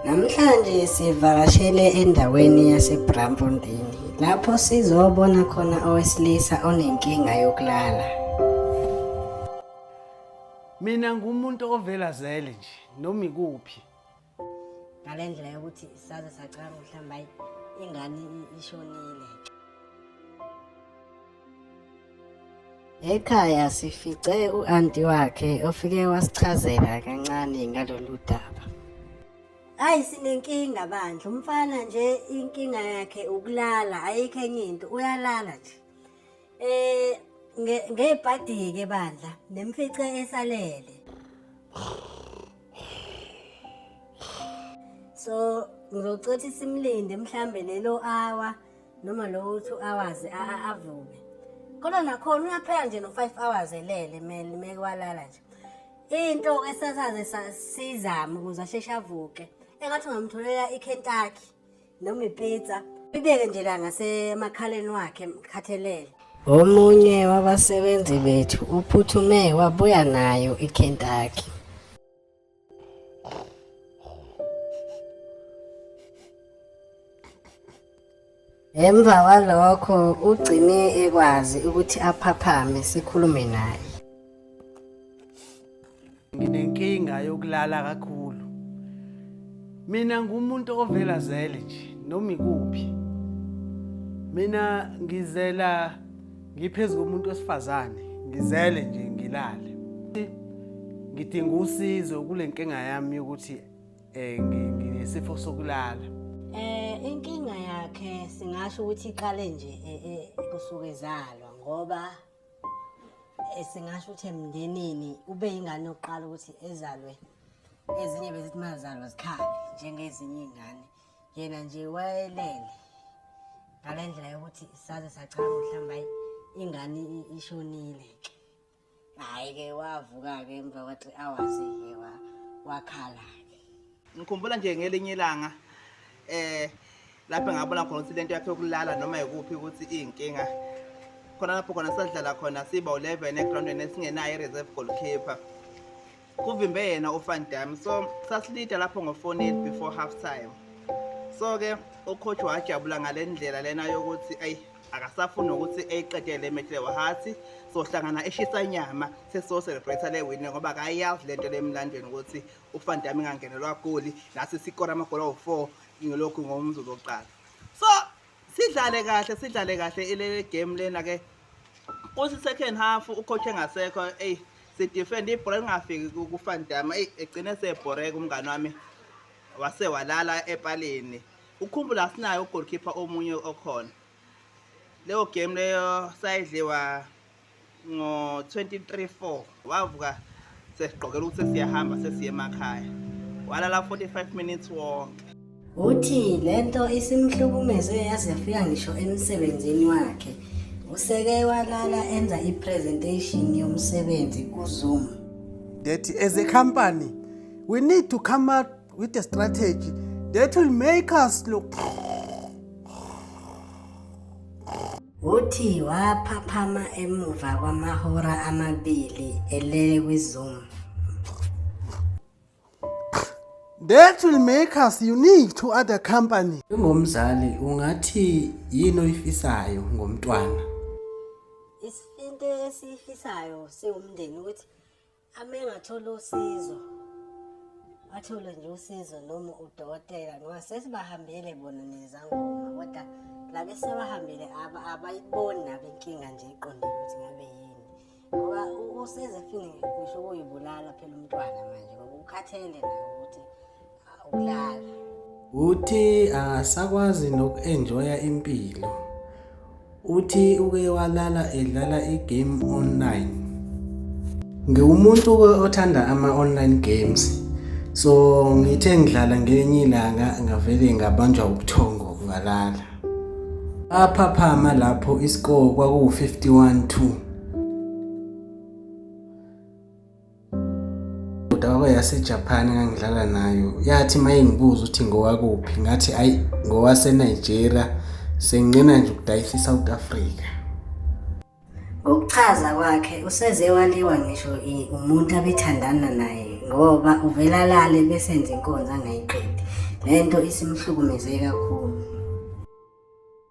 Namhlanje sivakashele endaweni yaseBramfontein lapho sizobona khona owesilisa onenkinga yokulala. Mina ngumuntu ovelazele nje noma ikuphi. ngale ndlela yokuthi saze sacabanga ukuthi hlambe hayi ingane ishonile Ekhaya sifice u-anti wakhe ofike wasichazela kancane ngalolu daba. Hayi sinenkinga bandla umfana nje inkinga yakhe ukulala ayikho enye into uyalala nje. Eh ngebhadi-ke bandla nemfice esalele. so ngizocothi simlinde mhlambe lelo hour noma lo 2 hours avuke kodwa nakhona uyaphela nje no 5 hours elele mele mekwalala nje into esasaze sizama ukuze asheshe avuke engathi ungamtholela iKentucky noma ipizza ibeke nje la ngasemakhaleni wakhe mkhathelele omunye wabasebenzi bethu uphuthume wabuya nayo iKentucky Emva kwalokho ugcine ekwazi ukuthi aphaphame sikhulume naye. nginenkinga yokulala kakhulu mina ngumuntu ovela zele nje noma ikuphi mina ngizela ngiphezu komuntu wesifazane ngizele nje ngilale ngidinga usizo kule nkinga yami yokuthi eh, um nginesifo sokulala eh inkinga yakhe singasho ukuthi iqale nje eh, eh, kusuke izalwa ngoba Eh, singasho ukuthi emndenini ube ingane yokuqala ukuthi ezalwe ezinye bezithi mazalwa zikhale njengezinye iy'ngane yena nje wayelele ngale ndlela yokuthi saze sachama mhlawumbe hayi ingane i- ishonile hhayi-ke wavuka-ke emva kwa-three hours-ke wakhala-ke Ngikhumbula nje ngelinye ilanga eh lapho ngabona khona ukuthi lento yakhe yokulala noma yikuphi ukuthi iyinkinga khona lapho khona sadlala khona siba u-11 egroundweni esingenayo i-reserve goalkeeper kuvimbe yena ufan dam so sasilida lapho ngofonini before half time so-ke ucoach wajabula ngale ndlela lena yokuthi ayi akasafuni ukuthi eyiqedele emehle wahathi sohlangana eshisa inyama sesoselebrate le wini ngoba akayazi le nto le emlandweni ukuthi uVan Damme engangenelwa goli nathi sikora amagoli awu-four ngilokhu ngomzuzu wokuqala so sidlale kahle sidlale kahle ile game lena-ke kuthi second half ukhokhe ngasekho eyi sidefend ibhola lingafiki kuVan Damme eyi egcine sebhoreka umngane wami wase walala epalini ukhumbula sinayo ugolkhipha omunye okhona leyo game leyo sayidliwa ngo-2034 wavuka sesigqokela ukuthi siyahamba sesiye emakhaya walala 45 minutes wonke uthi le nto isimhlukumeze yaze yafika ngisho emsebenzini wakhe useke walala enza i-presentation yomsebenzi kuzoom that as a company we need to come up with a strategy that will make us look Uthi waphaphama emuva kwamahora amabili elele kwiZoom. That will make us unique to other companies. Njengomzali ungathi yini oyifisayo ngomntwana? Isifinto esifisayo siwumndeni ukuthi Ame ngathola usizo athole nje usizo noma udokotela ngoba sesibahambele bona nezangoma kodwa labe sebahambile abayiboni nabo inkinga nje iqondile ukuthi ngabe yini ngoba usezefini ngisho ukuyibulala phela umntwana manje ngoba ukhathele naye ukuthi ukulala uthi akasakwazi noku-enjoya impilo uthi uke walala edlala i-game online ngiwumuntu othanda ama-online games so ngithe ngidlala ngenye ilanga ngavele ngabanjwa ubuthongo ngalala aphaphama lapho iscore kwakuwu-51 2 udaba yaseJapan engangidlala nayo yathi uma ingibuza ukuthi ngowakuphi ngathi ayi ngowasenigeria senginqena nje ukudayisa isouth africa ngokuchaza kwakhe useze waliwa ngisho umuntu abethandana naye ngoba uvela lale besenze inkonzo angayiqedi le nto isimhlukumeze kakhulu